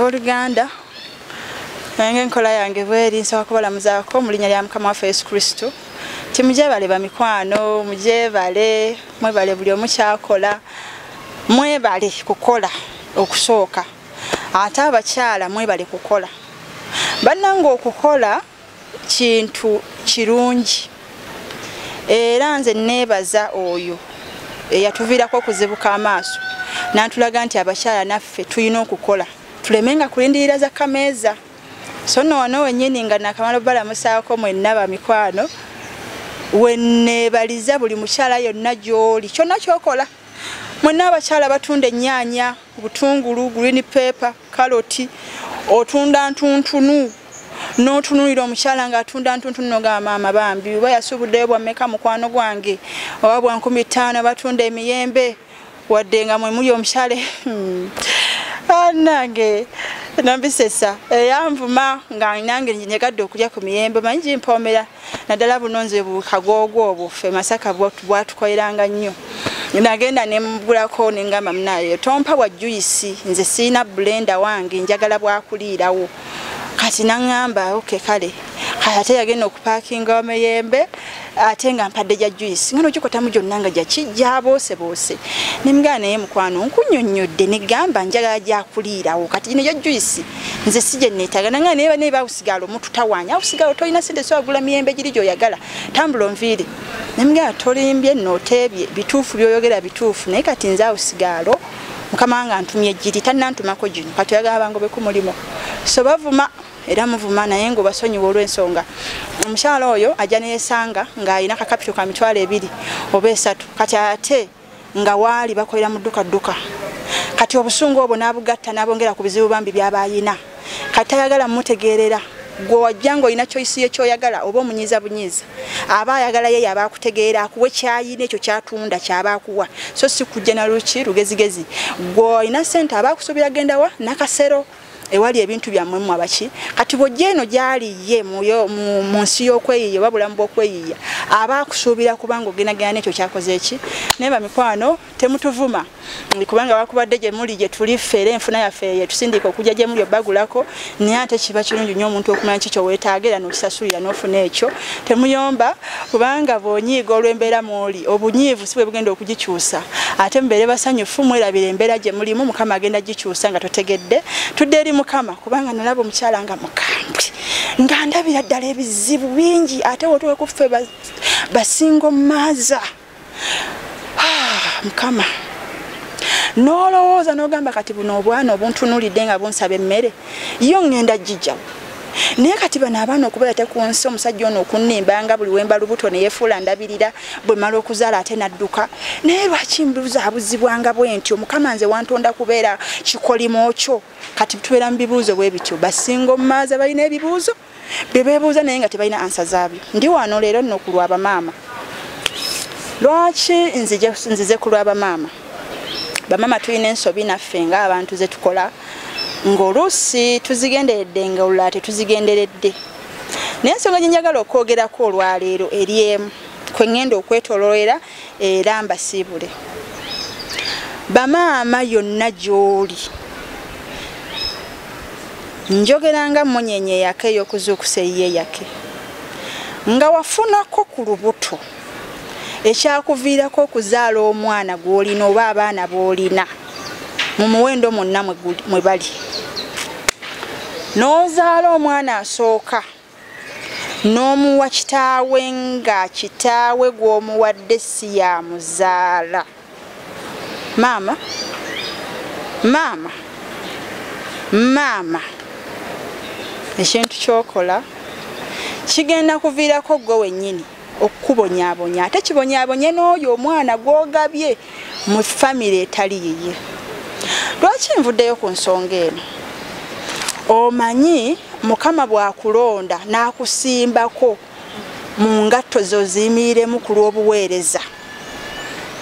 oluganda nange enkola yange bweri nsaba kubalamuzaako mu linnya lya mukama waffe yesu kristo ti mujebale bamikwano mujebale mwebale buli omu kyakola mwebale kukola okusooka ate abakyala mwebale kukola bannanga okukola kintu kirungi era nze neebaza oyo eyatuviirako okuzibuka amaaso n'antulaga nti abakyala naffe tulina okukola tuleme nga kulindirira za kameeza so no wano wenyini nga nakamala obalamusaako mwenna bamikwano weneebaliza buli mukyala yonna gy'oli kyonna kyokola mwenna abakyala batunda ennyaanya obutungulu green paper kaloti otunda ntuntunu n'otunulira omukyala ng'atunda ntuntunu nogamba maama bambi oba yasuubuddeyo bwammeka mukwano gwange oba bwa nkumi ttaano batunda emiyembe wadde nga mwe muli omukyale hmm. anange nambisesa eyanvuma nga nange nyegadde okulya ku miyembe manyi gimpoomera naddala buno nze bukagoogo obwo ffe masaka bwatukoleranga nnyo nagenda nemugulako nengamba munaye tompa wa juyisi nze siina bulenda wange njagala bwakuliirawo kati naŋamba oke kale kati ate yagenda okupakinga wameyembe ate nga mpadde gya juice ngano kikotamu gyonna nga gyakijyabooseboose nemugana naye mukwano nkunyonnyodde negamba njagala gyakuliirawo kati gino gya juice nze si gye neetagana nga naye banaye sigalo mututawanya awo sigalo tolina sente so agula miyembe giri gyoyagala tambula onviiri nemugera tolimbye noteebye bituufu byoyogera bituufu naye kati nze awo sigalo mukama wange antumye giri tanantumako gino kati oyagala bangobeku mulimu so bavuma era muvuma naye nga obasonyiwa olwensonga omukyala oyo ajja neyesanga ng'alina kakapito ka mitwalo ebiri oba esatu kati ate nga waali bakolera mu dduka dduka kati obusungu obwo n'abugatta n'abongera ku bizibu bambi byaba ayina kati tayagala mumutegeerera gwe wajja ng'olina kyoyisi ye kyoyagala oba omunyiiza bunyiiza aba ayagala yeyo aba akutegeera akuwa ekyayina ekyo kyatunda kyaba akuwa so si kujja na luki lugezigezi gwe olina ssente aba akusuubira gendawa nakasero ewali ebintu byammwe mmwe abaki kati bw'ojja eno gy'ali ye mu nsi y'okweyiiya oba bulamu bw'okweyiiya aba akusuubira kubanga ogendagenda n'ekyo kyakoze eki naye bamikwano temutuvuma kubanga wakubadde gye muli gye tuli ffeera enfuna yaffe yetusindiika okujja gye muli obagulako naye ate kiba kirungi nnyo omuntu okumanya ki kyo weetaaga era n'okisasulira n'ofuna ekyo temuyomba kubanga bw'onyiiga olw'embeera mw'oli obunyiivu si bwe bugenda okugikyusa ate mubeere basanyufu mwerabira embeera gye mulimu mukama agenda gikyusa nga totegedde tudde eri mukama kubanga nalaba omukyala nga mukambwe nga ndabira ddala ebizibu bingi ate wotowekuffe basingo maaza ah, mukama nolowooza nogamba kati buno obwana obuntunulidde nga bunsaba emmere yo ŋŋenda jijjawo naye kati bano abaana okubeera tekunsi omusajja ono okunimba nga buli wemba lubuto neyefuula ndabirira bwe mala okuzaala ate nadduka naye lwaki mbuzaabuzibwanga bwenti omukama nze wantonda kubeera kikolimo kyo kati tubeera mu bibuuzo bwe bityo basinga omumaaza balina ebibuuzo bebebuuza naye nga tebalina ansa zaabyo ndi wano leero nno ku lwabamaama lwaki nzize ku lwabamaama bamaama tulina ensobi naffe nga abantu zetukola ng'oluusi tuzigenderedde nga olulala tetuzigenderedde naye ensonga gyenjagala okwogerako olwaleero eri emu kwe ŋŋenda okwetololera era mbasiibule bamaama yonna gy'oli njogera nga munyenye yake ey'okuzuukusa eyiye yake nga wafunako ku lubuto ekyakuviirako okuzaala omwana gw'olina oba abaana b'olina mu muwendo mwonna mwe bali n'ozaala omwana asooka n'omuwa kitaawe nga kitaawe gw'omuwadde si ya muzaala maama maama maama ekintu kyokola kigenda kuviirako gwe wennyini okukubonyabonya ate kibonyabonye n'oyo omwana gwogabye mu famire etali yiye lwaki nvuddeyo ku nsonga eno omanyi mukama bwakulonda n'akusimbako mu ngatto zoziyimiriremu ku lw'obuweereza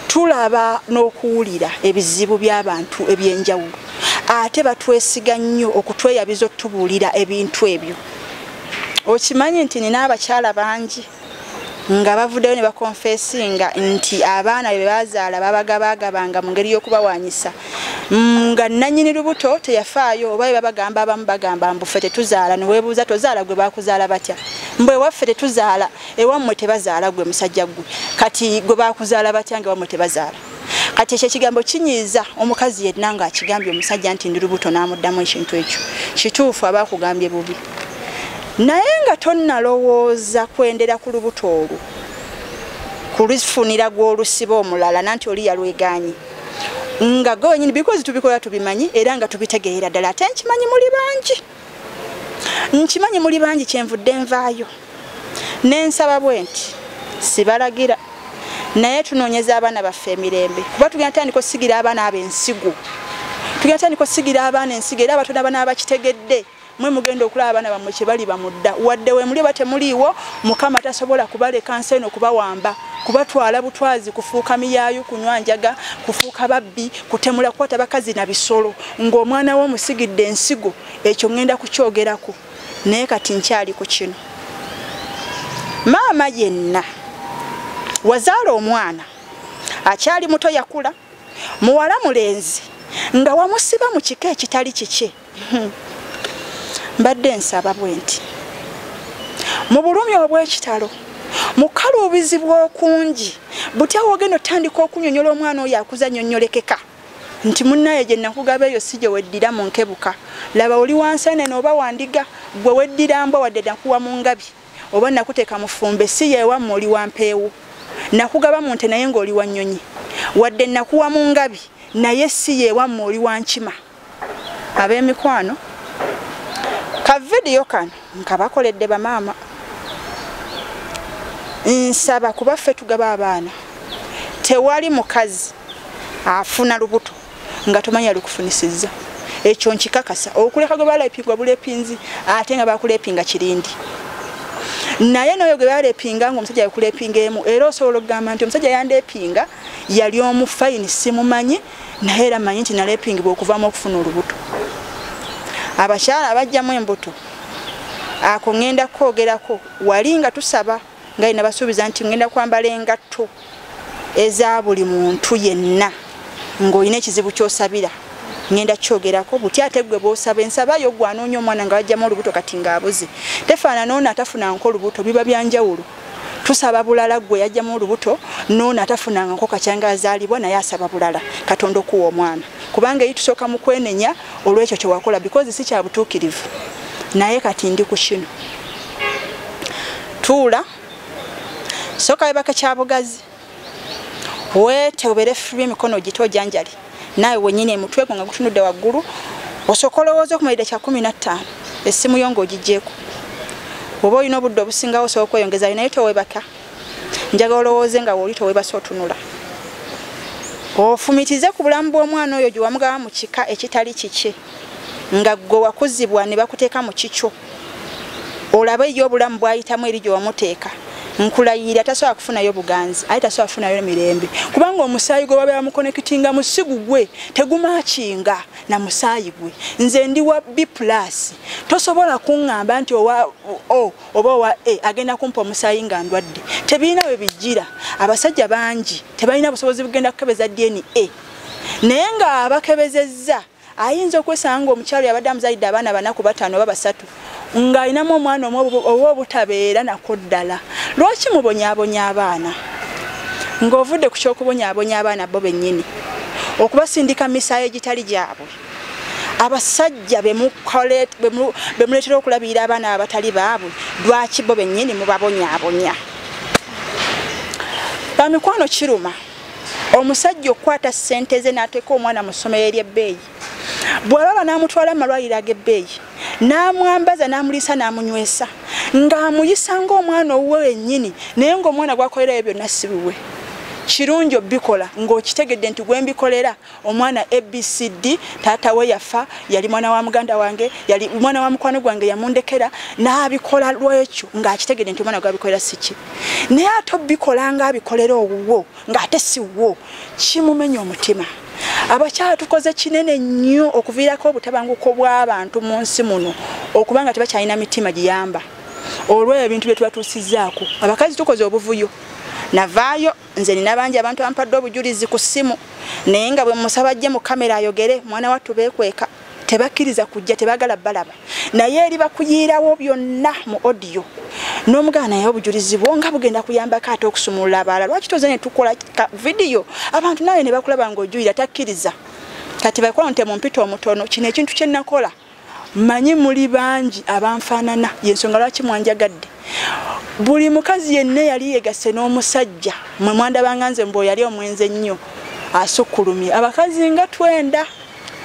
tulaba n'okuwulira ebizibu by'abantu eby'enjawulo ate batwesiga nnyo okutweyabiza okutubuulira ebintu ebyo okimanyi nti nina abakyala bangi nga bavuddeyo ne bakonfesinga nti abaana be bazaala babagabaagabanga mu ngeri y'okubawanyisa mm, nga nanyini lubuto teyafaayo oba be babagamba abamu bagamba mbufe tetuzaala newebuuza tozaala gwe bakuzaala batya mbwewaffe tetuzaala ewammwe tebazaala gwe musajja ggwe kati gwe bakuzaala batya nga ewammwe tebazaala kati ekyo ekigambo kinyiiza omukazi yenna ng'akigambye omusajja nti ndi lubuto n'amuddamu ekintu ekyo kituufu aba akugambye bubi naye nga tonnalowooza kwendera ku lubuto olwo kulufunira gw'olusiba omulala nanti oli yalwegaanyi nga gonyini bikozi tubikola tubimanyi era nga tubitegeera ddala ate nkimanyi muli bangi nkimanyi muli bangi kyenvudde nvaayo nensaba bwe nti sibalagira naye tunoonyeza abaana baffe emirembe kuba tugenda tandika osigira abaana abo ensigo tugenda tandika osigira abaana ensigo era abatona bana bakitegedde mwe mugenda okulaba abaana bammwe kye bali bamudda wadde wemuli oba temuliiwo mukama tasobola kubaleka nsi eno kubawamba kubatwala butwazi kufuuka miyaayu kunywa njaga kufuuka babbi kutemula kukwata bakazi na bisolo ng'omwana wo omusigidde ensigo ekyo ŋŋenda kukyogerako naye kati nkyali ku kino maama yenna wazaala omwana akyali muto yakula muwala mulenzi nga wamusiba mu kika ekitali kikye Hmm. mbadde nsaba bwe nti mu bulumi obw'ekitalo mukaluubizi bw'okungi butya wogenda otandika okunyonyola omwana oyo akuza nyonyolekeka nti munnaye gye nakugaba eyo si gye weddira mu nkebuka laba oli wansenene oba wandiga gwe weddira mbwa wadde nakuwa mu ngabi oba nakuteeka mufumbe si yewamme oli wampeewo nakugaba mu nte naye ng'oli wa nnyonyi wadde nakuwa mu ngabi naye si yewamme oli wa nkima ab'emikwano ka vidiyo kano nkabakoledde bamaama nsaba kuba ffe tugaba abaana tewali mukazi afuna lubuto nga tomanyi alikufunisizza ekyo nkikakasa okuleka gwe balepingwa bulepinzi ate nga bakulepinga kirindi naye noyo gwe balepinga nga omusajja yakulepinga emu era osobola okugamba nti omusajja yandeepinga yali omu fayini simumanyi naye era manyi nti nalepingibwa okuvamu okufuna olubuto abakyala abajjamu embuto ako ŋŋenda kukoogerako wali nga tusaba nga yina basuubiza nti ŋŋenda kwambala engatto eza buli muntu yenna ng'olina ekizibu ky'osabira ŋŋenda kukyogerako butya ate gwe bw'osaba ensaba yo gwanoonya omwana nga bajjamu olubuto kati ng'abuze tefaanana ono atafuna nko olubuto biba byanjawulo tusaba bulala gwe yajjamu olubuto noono atafunanga nko kakyanga azaalibwa naye asaba bulala katonda okuwa omwana kubanga eyi tusooka mu kwenenya olwekyo kyewakola because si kya butuukirivu naye kati ndi ku kino tuula sooka webaka kyabugazi wete obere free mikono gito janjali naye wenyine mutwe gwa gutunude waguru osokola wozo kumaida cha 15 esimu yongo jijeko obo ino buddo businga oso okweyongeza ina yote webaka njaga olowoze nga wolito webasa otunula ofumitize ku bulamu bw'omwana oyo gye wamugawa mu kika ekitali kiki nga ggwe wakuzibwa ne bakuteeka mu kikyo olaba eyo obulamu bwayitamu eri gye wamuteeka nkulayirira tasobola kufunayo buganzi aye tasobola kufunayo mirembe kubanga omusaayi gwe babeera mukonekitinga musigu gwe tegumakinga na musaayi gwe nze ndi wa b plus tosobola kuŋŋamba nti owa o oba owa a agenda kumpa omusaayi nga ndwadde tebirina we bijjira abasajja bangi tebalina busobozi bugenda kukebeza dna naye ng'abakebezezza ayinza okwesanga ng'omukyalo yabadde amuzalidde abaana bana ku bataano oba basatu ng'alinamu omwana omu oba obutabeera nako ddala lwaki mubonyabonya abaana ng'ovudde ku ky'okubonyabonya abaana bo bennyini okubasindika misaayo egitali gyabwe abasajja bemuleetera okulabirira abaana abatali baabwe lwaki bo bennyini mubabonyabonya bamikwano kiruma omusajja okukwata ssente ze n'ateeka omwana mu ssomero ery'ebbeeyi bw'alaba n'amutwala mu malwaliro ag'ebbeeyi n'amwambaza n'amuliisa n'amunywesa ng'amuyisa ng'omwana owuwe wennyini naye ng'omwana gwakolerayo byonna si biwe kirungi obikola ng'okitegedde nti gwe mbikolera omwana abcd taata we yafa yali mwana wa muganda wange yali mwana wa mukwano gwange yamundekera n'abikola lwekyo ng'akitegede nti omwana gwabikolera siki naye ate obikola ng'abikolera owuwo ng'ate siwo kimumenya omutima abakyala tukoze kinene nnyo okuviirako obutabanguko bw'abantu mu nsi muno okuba nga tebakyalina mitima giyamba olw'ebyo ebintu bye tubatuusizzaako abakazi tukoze obuvuyo navaayo nze nina bangi abantu ampadde obujulizi ku ssimu naye nga bwe musaba ajje mu kamera ayogere mwana wattu beekweka tebakkiriza kujja tebagala balaba naye eri bakuyiirawo byonna mu odiyo n'omugana naye obujulizi bwo nga bugenda kuyambako ate okusumulula abaala lwaki toze ne tukola vidiyo abantu nawe ne bakulaba ng'ojuyira takkiriza kati bakola nte mu mpita omutono kino ekintu kye nnakola manyi muli bangi abanfaanana yensonga lwaki mwanjagadde buli mukazi yenna yali yegasse n'omusajja mwe mwandabanga nze mbu yali omwenzi ennyo asukkulumye abakazi nga twenda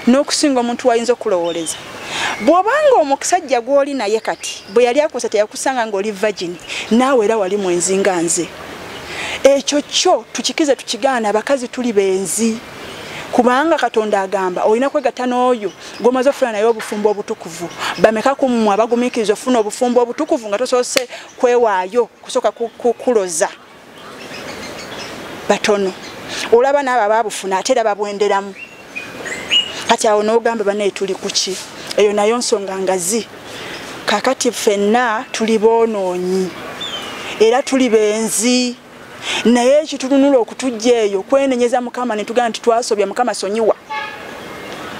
n'okusinga omuntu wayinza okulowooleza bw'obanga omusajja gw'oli naye kati bwe yali akusa teyakusanga ng'oli vagini naawe era wali mwenzi nga nze ekyo kyo tukikize tukigaana abakazi tuli benzi kubanga katonda agamba olina kwegatta n'oyo gomaze ofuna naye obufumbo obutukuvu bameka ku mmwe abagumikiriza ofuna obufumbo obutukuvu nga tosoose kwewaayo kusooka kukuloza batono olaba naabo ababufuna ate era babwenderamu kati awo nogamba banaye tuli kuki eyo nayo nsonga ngazi kakati fenna tuli bonoonyi era tuli benzi naye ekitununula okutujja eyo kwenenyeza mukama netugamba nti twasobya mukama sonyiwa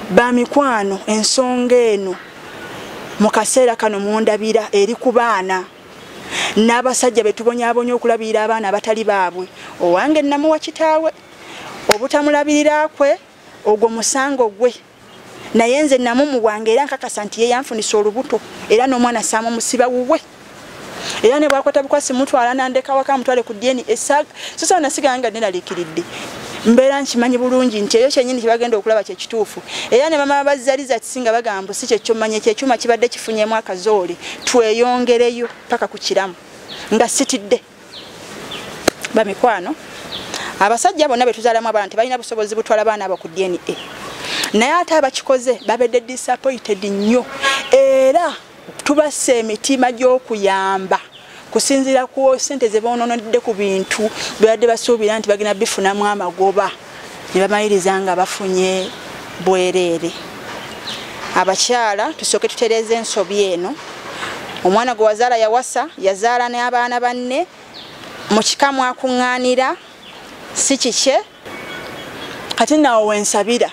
bamikwano ensonga eno mu kaseera kano mundabira eri ku baana n'abasajja be tubonyabonya okulabirira abaana abatali baabwe owange nnamuwa kitaawe obutamulabirira kwe ogwo musango gwe naye nze namumuwanga era nkakasa nti yeyanfunisa olubuto era n'omwana saama omusiba wuwe era ne bwakwata bukwasi mutwala nandekawaka mutwale ku dna esaga sosawo nasigala nga neraliikiridde mbeera nkimanyi bulungi nti eyo kyenyini kyebagenda okulaba kyekituufu era ne bamama bazaliza kisinga bagambo si kyekyo manya kyekyuma kibadde kifunyemu akazoole tweyongereyo paka ku kiramu nga sitidde bamikwano abasajja bonna betuzalamu abaana tebalina busobozi butwala baana abo ku dna naye ate abakikoze babedde disappointed nnyo era tubassa emitima gy'okuyamba kusinziira ku sente ze boononedde ku bintu bebadde basuubira nti bagenda bifunamu amagoba ne bamaliriza nga bafunye bwereere abakyala tusooke tutereeza ensobi eno omwana gwe wazaala yawasa yazaala n'abaana banne mu kika mwakuŋŋaanira si kikye kati nawo wensabira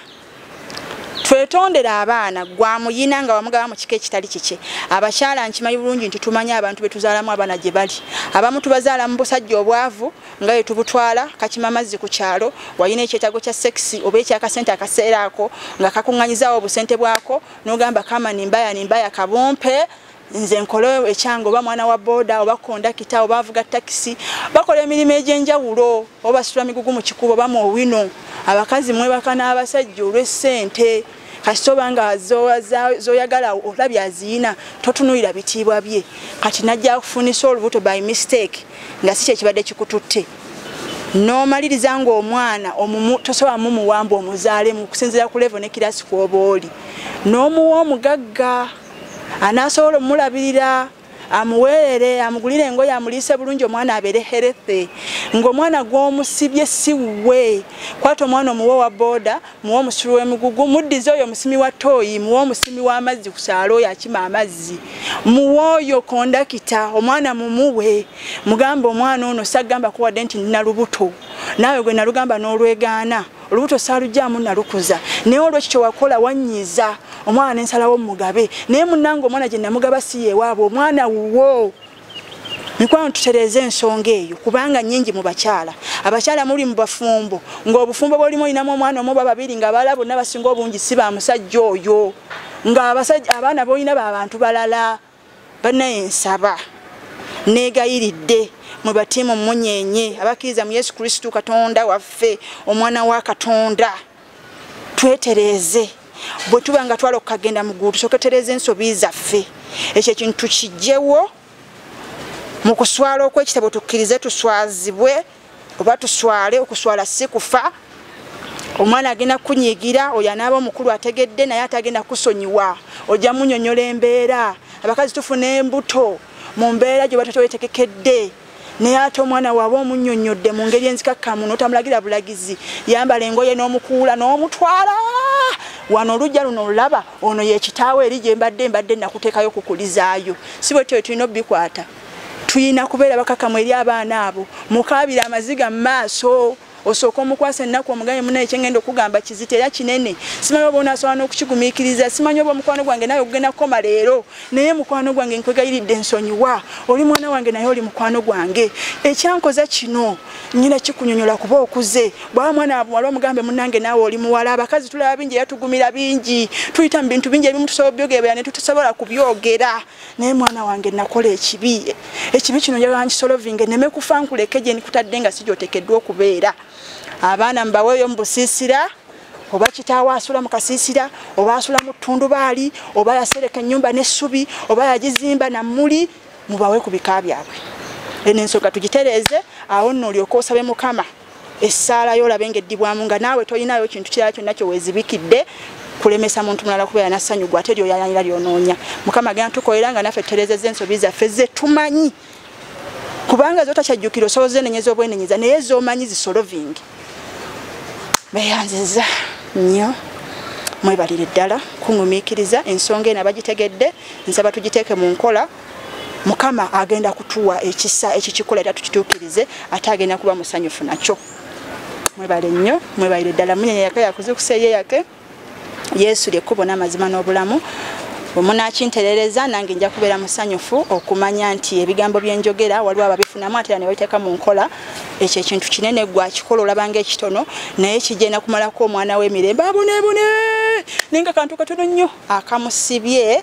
twetondere abaana gwamuyina nga wamugaba mu kika ekitali kikye abakyala nkimanyi bulungi nti tumanyi abantu betuzaalamu abaana gye bali abamu tubazaala mu busajja obwavu nga ye tubutwala kakima mazzi ku kyalo walina ekyetago kya sekisi oba ekyakasente akaseera ako nga kakuŋŋanyizawo obusente bwako n'ogamba kamani mbaya ni mbaya kabumpe nze nkole ekyange oba mwana wa boda oba kondakita oba avuga takisi bakola emirimu egyenjawulo oba basula migugu mu kikubo oba mu owino abakazi mwebaka n'abasajja olw'essente kasita oba nga zoyagala olabye aziyina totunulira bitiibwa bye kati najja kufunisa olubuto by mistake nga si kyekibadde kikututte n'omaliriza ng'omwana tosobola mumuwamba omuzaalemu okusinzira ku levo ne kirasi kwoba oli n'omuwa omugagga anaasobola omulabirira amuweerere amugulire engoye amuliise bulungi omwana abeere herethe ng'omwana gw'omusibye si wuwe kwata omwana omuwe owa booda muwe omusulu w'emigugu muddize oyo omusimi wa tooyi muwe omusimi w'amazzi ku kyalo oyo akima amazzi muwe oyo kondakita omwana mumuwe mugamba omwana ono sagamba kuwadde nti nina lubuto naawe gwe nalugamba n'olwegaana olubuto saalugyamu nalukuza naye olwekyo kyewakola wanyiiza omwana nensalawo mugabe naye munange omwana gye namugaba si yewaabwe omwana wuwo mikwano tutereeze ensonga eyo kubanga nyingi mu bakyala abakyala muli mu bafumbo ng'obufumbo bwolimu olinamu omwana omu bababiri nga abala bonna basinga obungi si ba musajja oyo ng'abaana bolina ba bantu balala banaye nsaba negayiridde mwe batiimu munyenye abakkiriza mu yesu kristu katonda waffe omwana wa katonda twetereeze bwe tuba nga twala okukagenda mu ggulu tusooke tereeza ensobi zaffe ekyo ekintu tukijjewo mu kuswala okw'ekitabo tukkirize tuswazibwe oba tuswale okuswala si kufa omwana agenda kunyigira oyo anaaba omukulu ategedde naye atagenda kusonyiwa ojja munyonyola embeera abakazi tufuna embuto mu mbeera gyoba totowetekekedde naye ate omwana waaba omunyonyodde mu ngeri enzikakkamu notamulagira bulagizi yambala engoye n'omukuula n'omutwala wano olujja luno olulaba ono yekitaawo eri gyembadde mbadde nakuteekayo kukulizaayo si bwetyo tulina obikwata tuyina kubeera bakakamu eri abaana abo mukaabire amaziga mu maaso osooka omukwasa ennaku omugambe muna ekyengenda okugamba kizito era kinene simanyi oba onasobola n'okukigumiikiriza simanyi oba omukwano gwange nawe ogugenda kukoma leero naye mukwano gwange nkwegayiridde ensonyiwa oli mwana wange naye oli mukwano gwange ekyankoza kino nyina kikunyonyola kuba okuze bwaba mwana wabuwala omugambe munange naawe oli muwala abakazi tulaba bingi era tugumira bingi tuyita mu bintu bingi ebimu tusobola byogeera ne tutusobola kubyogera naye mwana wange nakola ekibi ekibi kino njagala nkisolovinge neme kufa nkuleke gye nikutadde nga sigyotekeddwa okubeera abaana mbaweeyo mu busiisira oba kitaawo asula mu kasiisira oba asula mu ttundubaali oba yasereka ennyumba n'essubi oba yagizimba na muli mubawe ku bika byabwe eno ensonga tugitereeze awo nno olyoka osabe mukama essaala yo olabe ng'eddibwamu nga naawe tolinayo kintu kirala kyonna kye weezibikidde kulemesa muntu mulala kubeera na ssanyu gwe ate lyoyayanira lyonoonya mukama agenda tukolera nga naffe tutereezeza ensobi zaffe ze tumanyi kubanga zotakyajjukira osoboza enenyeza obwenenyeza naye zomanyi zisolovingi beyanziza nnyo mwebalire ddala kuŋumiikiriza ensonga eno abagitegedde nsaba tugiteeke mu nkola mukama agenda kutuwa ekisa ekyo kikola era tukituukirize ate agenda kuba musanyufu nakyo mwebale nnyo mwebalire ddala munyenye yaka yakuzukusa eye yake yesu lyekkubo n'amazima n'obulamu bwemunakinterereza nange nja kubeera musanyufu okumanya nti ebigambo byenjogera waliwo ababifunamu atera ne babiteeka mu nkola ekyo ekintu kinene gwe akikola olabanga ekitono naye kigenda kumalako omwana w'emirembe abonebone naye nga kantu katono nnyo akamusibye